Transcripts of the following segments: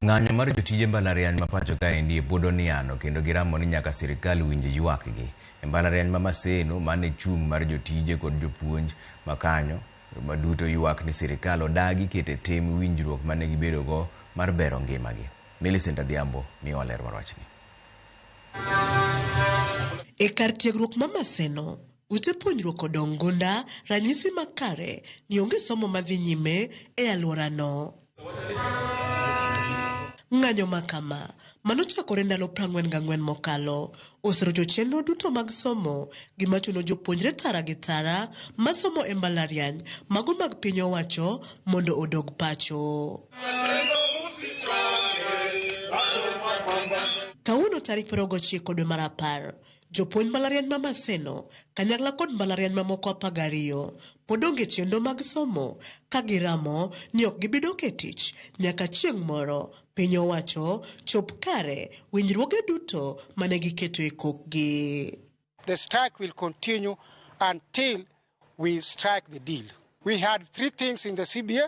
Ng'anyo mar jotije mbalariany ma pacho kaendi pod oniano kendo giramo ni nyaka sirkal winj ywakgi. E mbalariany ma Maseno, man e chung' mar jotije kod jopuonj ma kanyo, ma duto ywak ni sirkal odagi keto e tim winjruok mane gibedogo mar bero ngimagi. Millicent Adhiambo miyowa ler mar wachni. E kar tiegruok ma Maseno, Ute puonjruok odong' gunda ranyisi makare ni onge somo madhi nyime e alworano. Ng'anyo makama, manochakore ndalo prang'wen gang'wen mokalo, oserocho chenro duto mag somo, gima chuno jopuonjre tara gi tara masomo e mbalariany mago mag piny owacho mondo odog pacho. Kawuono tarik piero gochiko dwe mar apar, Jopuonj mbalariany ma Maseno, kanyakla kod mbalariany mamoko apar gariyo pod onge chenro mag somo ka giramo ni ok gibi dok e tich nyaka chieng' moro piny owacho chop kare winjruoge duto mane giketo e kokgi. The strike will continue until we strike the deal. We had three things in the CBA,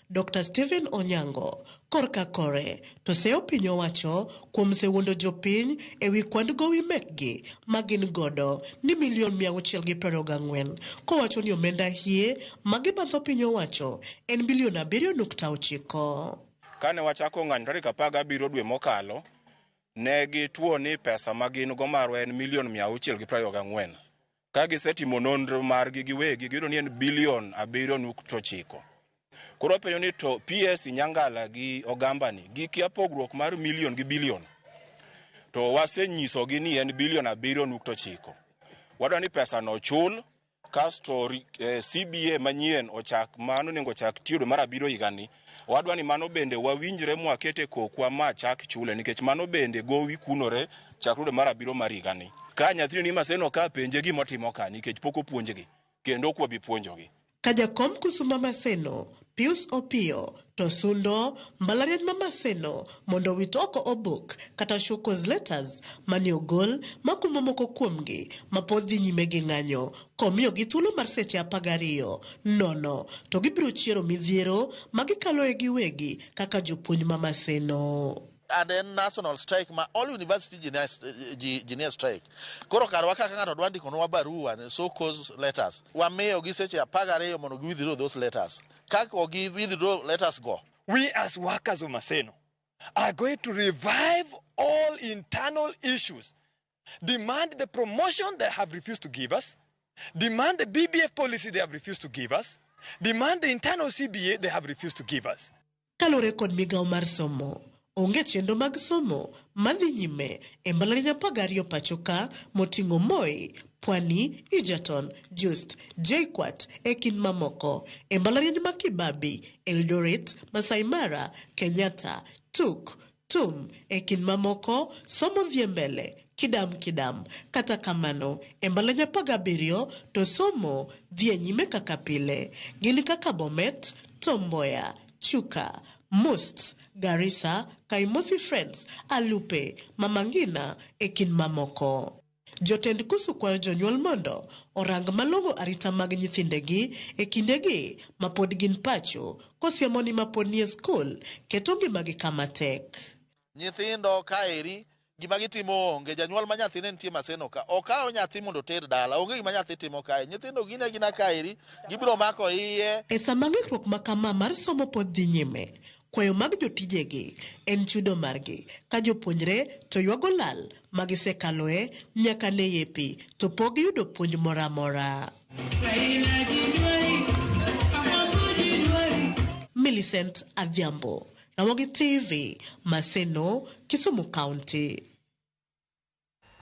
Dokta Stephen Onyango, korka kore, to seyo piny owacho kuom sewuondo jopiny e wi kwand gowi mekgi ma gin godo ni milion mia auchiel gi piero ariyo gang'wen kowacho ni omenda hie ma gibandho piny owacho en bilion abiriyo nukta ochiko. Kane wachako ng'anyo tarik apar gabiriyo dwe mokalo, ne gituo ni pesa ma gin go marwa en milion mia auchiel gi piero ariyo gang'wen. ka gisetimo nonro margi giwegi giyudo ni en bilion abiriyo nukto chiko koro wapenjo ni to ps nyangala gi ogambani gikia pogruok mar milion gi bilion to wasenyisogi ni en bilion abiriyo nukto chiko wadwa ni pesano ochul kasto ri- eh, cba manyien ochak mano onego ochak tiyo dwe mar abiriyo higani Owadwa ni mano bende wawinjre mwaket e kokwa ma chak chule nikech mano bende gowi kunore chakre dwe mar abiriyo mar higani. Ka nyathini ni Maseno ka penje gima otimo ka nikech pok opuonjgi kendo ok wabi puonjogi. Ka jakom kusuma Maseno, Pius Opiyo to sundo mbalariany ma Maseno mondo owit oko obok kata show cause letters mane ogol makumo moko kuomgi mapod dhi nyime gi ng'anyo Komiyogi thuolo mar seche apar gariyo nono to gibiro chiero midhiero ma gikaloe giwegi kaka jopuonj ma Maseno. and en national strike ma all university junior, ji- junior strike koro karwa kaka ng'ato dwa ndikonwa barua ni so cause letters wamiyogi seche apar gariyo mondo gi withdraw those letters ka ok gi withdraw letters go We as workers of Maseno are going to revive all internal issues demand the promotion they have refused to give us, demand the BBF policy they have refused to give us, demand the internal CBA they have refused to give us. Kalure kod migawo mar somo, onge chenro mag somo madhi nyime e mbalarinya apar gariyo pacho ka moting'o Moi, Pwani, Egerton, Just, JKUAT e kind mamoko e mbalariany ma Kibabi, Eldoret, Masai Mara, Kenyatta, Tuk, Tum, e kind mamoko, somo dhie mbele, kidam kidam. Kata kamano, e mbalanye apar gabiriyo to somo dhie nyime kaka pile. Gin kaka Bomet, Tom Mboya, Chuka, Must, Garissa, Kaimosi Friends, Alupe, Mama Ngina, e kind mamoko. Jotend Kusu kwayo jonyuol mondo orang malong'o arita mag nyithindegi e kindegi ma pod gin pacho, kosiemo ni ma pod nie skul keto ngimagi kama tek. Nyithindo kaeri gima gitimo onge, janyuol ma nyathine nitie Maseno ka, okawo nyathi mondo oter dala, onge gima nyathi timo kae. Nyithindo gin agina kaeri, gibiro mako iye. E sama ng'ikruok ma kama mar somo pod dhi nyime, Kwayo mag jotijegi en chudo margi, ka jopuonjre to ywago lal ma gisekaloe nyaka ne yepi, to pok giyudo puonj moro amora. Millicent Adhiambo, Ramogi TV, Maseno, Kisumu County.